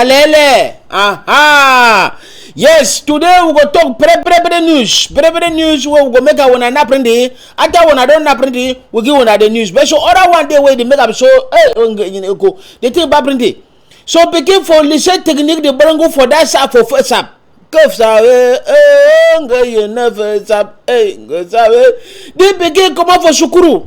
Alele! Aha! Yes, today we go talk pre pre pre news. Pre pre news where we go make our one and apprend it. After one I don't apprend it, we give one the news. But so other one day where they make up so eh go. They take apprend it. So begin for listen technique the barango for that sap for first sap. Kofsa eh eh nga you never sap eh nga sap. They begin come out for shukuru.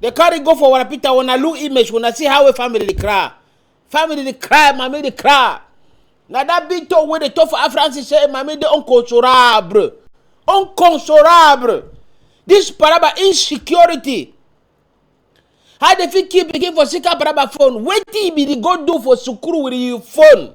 They carry go for Wana Peter. When I look image, when I see how a family dey cry, family dey cry, mommy dey cry. Now that big talk where they talk for Africans is say, mommy dey inconsolable, inconsolable. This paraba insecurity. How they fit keep pikin for sick paraba phone? Wetin be the go do for sukuru with your phone?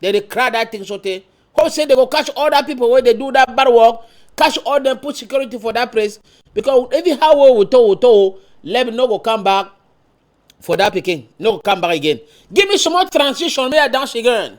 They dey cry that thing sotey. Hope say they go catch all that people wey dey do that bad work, catch all them, put security for that place. Because even how well we told, we told, let me no go come back for that pikin. No go come back again. Give me some more transition, may I dance again.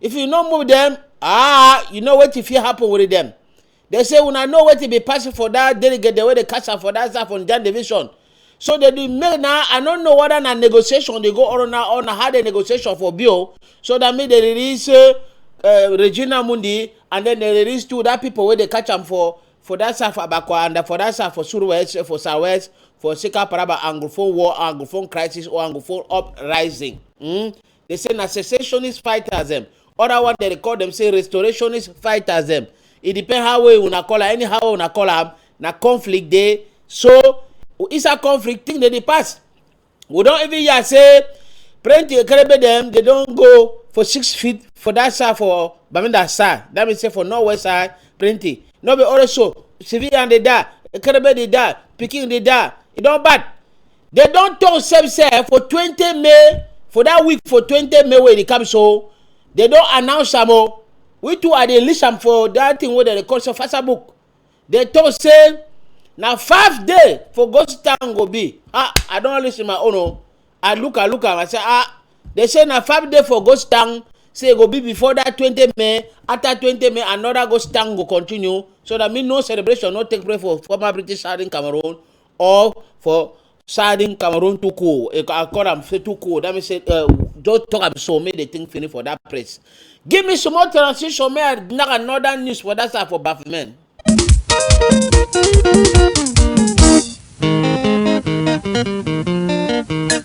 if you no move dem ah you know wetin fit happen with dem dem say una know wetin be passing for dat delegate dem wey dey catch am for dat side for naija division so dem dey make na i no know whether na negotiation dey go on na on how the negotiation for be o so dat mean dem release eh, eh, regina mundi and then dem release two dat pipo wey dey catch am for for dat side for abakwa and for dat side for surwest for southwest for sika paraba anglophone war anglophone crisis or anglophone uprising. Mm? They say na secessionist fighters them. Other one they call them say restorationist fighters them. It depends how way una call her, anyhow una call her. Na conflict dey. So it's a conflict thing that dey pass. We don even hear say plenty Ekerebe them they don go for six feet for that side for Bamenda side. That means say for northwest side plenty. No be also civilian dey die, Ekerebe dey die, pikin dey die. E don bad. They don't talk same say for 20 May, for that week for 20 May where they come so, they don't announce am o. We too are dey list am for that thing where they call so fasa book. They talk say na five day for ghost town go be. Ah, I don't listen my own o. I look, I look am, I say ah, they say na five day for ghost town say e go be before that 20 May, after 20 May another ghost town go continue so that me no celebration no take place for former British Southern Cameroon or for sadin cameroon too cool i call am say too cool that mean say uh, just talk am so make the thing finish for that place give me some more transition make i knack another news for that side for bafemen. Thank you.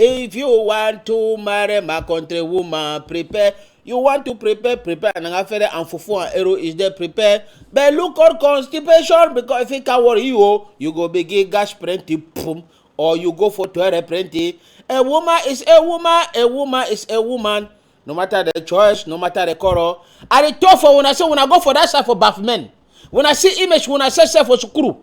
If you want to marry my country woman, prepare. You want to prepare, prepare and afere and fufu and ero is there prepare. But look out constipation because if it can worry you, oh, you go begin gas plenty, boom, or you go for toilet plenty. A woman is a woman, a woman is a woman. No matter the choice, no matter the color. And it tough for when I say when I go for that side for buff men. When I see image, when I say self for sukuru.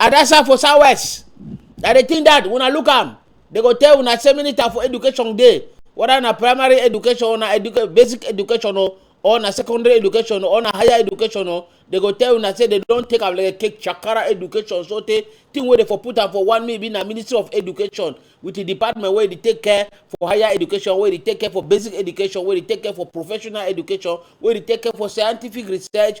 Adasa for southwest. Na the thing that una look am, they go tell una say minister for education dey, whether na primary education or na educa basic education o or na secondary education or na higher education o, they go tell una say they don take am like take chakara education so tey thing wey dey for put am for one maybe na ministry of education with the department wey dey take care for higher education, wey dey take care for basic education, wey dey take care for professional education, wey dey take care for scientific research,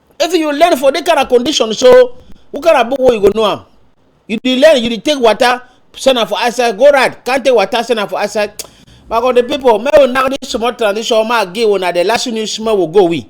if you learn for that kind of condition so what kind of book wey you go know am you dey learn you dey take water send am for outside go ride can't take water send am for outside my god the people make we knack this small transition ma give una the last news small we go we.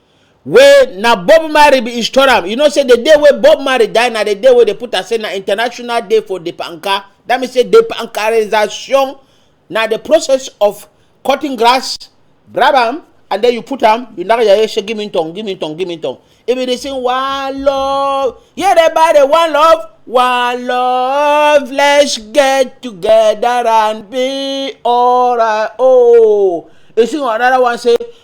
wey na bob marley bin install am you know say the day wey bob marley die na the day wey dey put am say na international day for the panka that means say the pankarization na the process of cutting grass grab am and then you put am you knack your head say give me tongue give me tongue give me tongue if you dey sing one love yeah dey buy the one love one love let's get together and be alright oh you sing another one say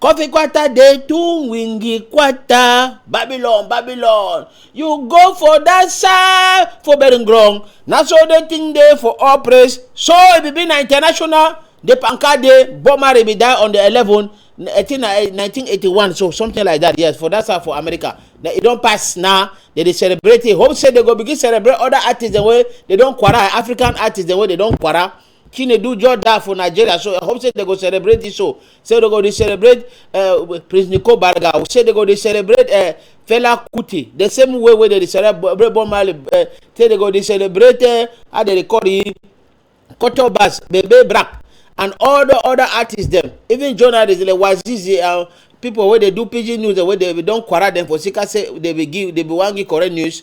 Coffee Quata dey too wingy quata. Babylon, Babylon. You go for that side for bearing ground. Na so the thing dey for all praise. So it be be na international. The Panka dey Bomari be die on the 11, 18, 1981, so something like that. Yes, for that side for America. Now, it don't pass now. They dey celebrate it. Hope say they go begin celebrate other artists the way they don't quarrel. African artists the way they don't quarrel. chinedu just die for nigeria so i hope say they go celebrate this so say they go dey celebrate uh, prince nico barga say they go dey celebrate uh, fela kuti the same way wey they dey celebrate bob marley uh, say they go dey celebrate uh, how they dey call the culture bars bebe black and all the other artists dem even journalists like wazizi and uh, people wey dey do pidgin news wey dey don quarrel dem for sika say dey be give dey be wan give correct news